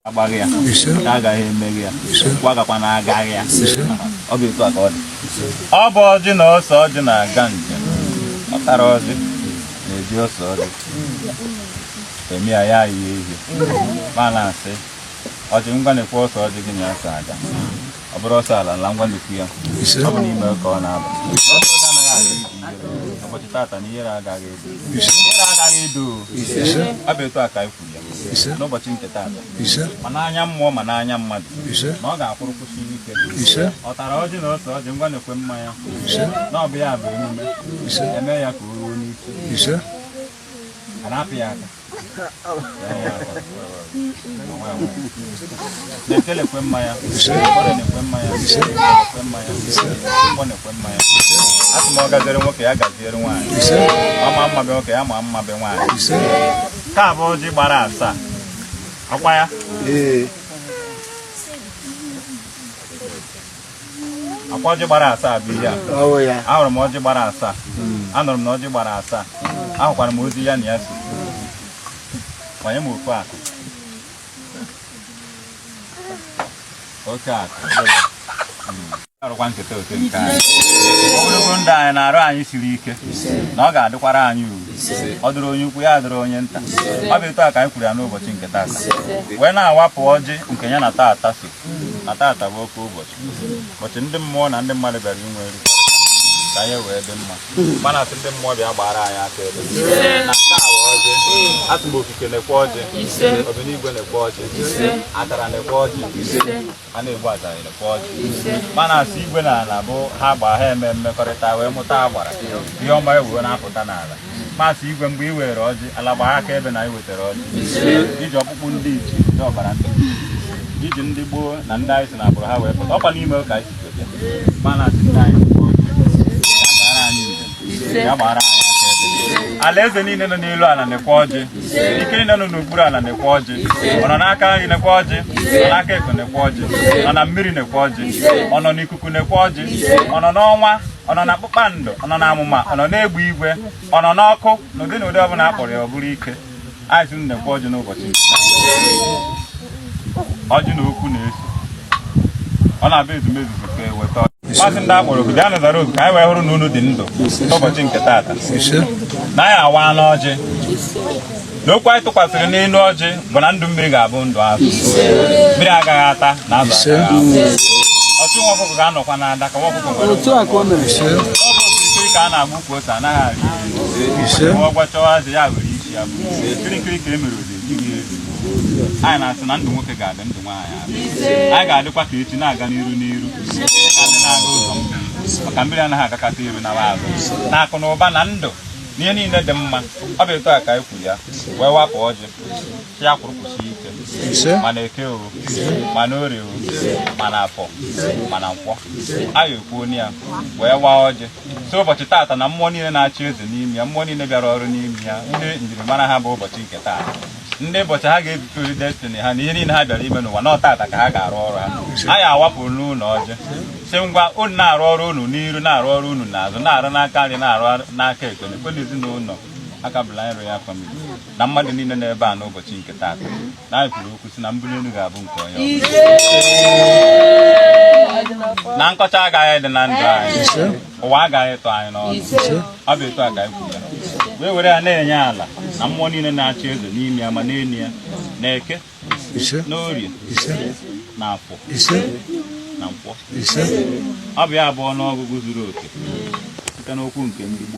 agbaghị ya ka agaghị emeghị ya gwagakwa na agaghị ya ọ bụ etu a ka ọ dị ọ bụ ọjị na ose ọjị na-aga njem ọ tara ọjị na-eji ose ọjị eme ya ya ihe ihe ma na-asị ọjị ngwa nekwe ose ọjị gị na ya so aga ọ bụrụ ọsọ ala ala ngwa nekwe ya ọ bụ n'ime ka ọ na-aba ụbọchị tata na ihere agaghị edo ihere agaghị edo ọ bụ etu a ka ise n'ụbọchị nke taa ise ma n'anya mmụọ ma n'anya mmadụ ise na ọ ga-akwụrụ kwụsị ike ise ọ tara ọjị na ose ọjị ngwa nekwe mmanya ise na ọ bụ ya bụ emume ise eme ya ka o ruo n'isi ise a na-apị ya aka eke nekwe mmanya orie nekwe mmanya ise nekwe mmanya ise nkwọ nekwe mmanya asị m ọ gaziere nwoke ya gaziere nwaanyị ise ọ ma mma be nwoke ya ma mma be nwaanyị ise Nke a bụ ọjị gbara asaa. Ọkwa ya? Ee. Ọkwa ọjị gbara asaa bụ ihe a. Ọwụ ya. Ahụrụ m ọjị gbara asaa. Anụrụ m na ọjị gbara asaa. Ahụkwara m ozi ya na ya so. Kwanye m ofu akụ. oke akụ arụkwa nketa oke nke anyị ogologo ndụ anyị na arụ anyị siri ike na ọ ga-adịkwara anyị uru ọ dịrị onye ukwu ya dịrị onye nta ọ bụ etu a ka anyị kwuru ya n'ụbọchị nke tata wee na-awapụ ọjị nke ya na tata so na tata bụ oke ụbọchị ụbọchị ndị mmụọ na ndị mmadụ bịara inwe nri ka ya wee dị mma mana asị ndị mmụọ bịa gbara anyị akaebe na nke a bụ ọjị asị m okike nekwe ọjị obinigwe nekwe ọjị atara nekwe ọjị a na-egbu atara nekwe ọjị mana asị igwe na ala bụ ha gba ha eme mmekọrịta wee mụta agbara ihe ọma ewuwe na-apụta n'ala m asị igwe mgbe ị were ọjị ala gbara akaebe na ị wetara ọjị ichie ọkpụkpụ ndị ichie ndị ọbara ndị ichie ndị gboo na ndị anyị si na agbụrụ ha wee pụta ọkwa n'ime ụka anyị alaeze niile nọ n'elu ala nekwe ọjị ike niile nọ n'okpuru ala nekwe ọjị ọ nọ n'aka nri nekwe ọjị ọ nọ n'aka ekpe nekwe ọjị ọ nọ na mmiri nekwe ọjị ọ nọ n'ikuku nekwe ọjị ọ nọ n'ọnwa ọ nọ na kpụkpando ọ nọ na amụma ọ nọ n'egbe igwe ọ nọ n'ọkụ n'ụdị na ụdị ọbụla a kpọrọ ya ọ bụrụ ike anyị sị nekwe ọjị n'ụbọchị nke taa. ọjị na okwu na-eso ọ na-abịa ezumezu tupu eweta ọjị m asị ndị akpọrọ oku bịanụ zara oku ka anyị wee hụrụ na unu dị ndụ n'ụbọchị nke taata na anyị awana ọjị na okwu anyị tụkwasịrị n'elu ọjị bụ na ndụ mmiri ga-abụ ndụ azụ mmiri agaghị ata na azụ agaghị anwụ ọchụ nwa ọkụkọ ga-anọkwa n'ada ka nwa ọkụkọ nwere otu a ka o mere ọ bụ okirikiri ka a na-agba Ukwu ose anaghị arị elu. Ise. Ọ gwachọwa azị ya were isi ya bu. Kirikiri ka e mere ose ejighị elu. Anyị na-asị na ndụ nwoke ga-adị ndụ nwaanyị adị. Anyị ga-adịkwa ka echi na-aga n'iru n'iru. Ka ndị na-aga ụzọ mmiri. Maka mmiri anaghị agakata iru naa azụ. Na akụ na ụba na ndụ na ihe niile dị mma. Ọ bụ etu a ka anyị kwuru ya. Wee wapụ ọjị. Sị ya kwụrụ kwụsie ike. Ise. Ma na eke o. Ma na orie o. Ma na afọ. Ma na nkwọ. Anyị ekwuo ya. Wee waa ọjị. sị ụbọchị taata na mmụọ niile na-achị eze n'ime ya mmụọ niile bịara ọrụ n'ime ya ndị njirimara ha bụ ụbọchị nke taa ndị ụbọchị ha ga-ebipụri destiny ha na ihe niile ha bịara ime n'ụwa na ọ taata ka ha ga-arụ ọrụ ha anyị awapụrụ unu ọjị sị ngwa unu na-arụ ọrụ unu n'iru na-arụ ọrụ unu n'azụ na-arụ n'aka nri na-arụ n'aka ekpe na ezinụlọ Alkebulan Royal Family na mmadụ niile n'ebe a n'ụbọchị nke taata na anyị kwuru okwu sị na mbuli elu ga-abụ nke onye ọbụla. na nkọcha agaghị adị na ndụ anyị ụwa agaghị ịtụ anyị n'ọnụ ọ bụ etu a ka anyị kwuru ya wee were ya na-enye ala na mmụọ niile na-achị eze n'ime ya ma n'elu ya na eke na orie na afọ na nkwọ ọ bụ ya bụ ọnụọgụgụ zuru oke site n'okwu nke ndị Igbo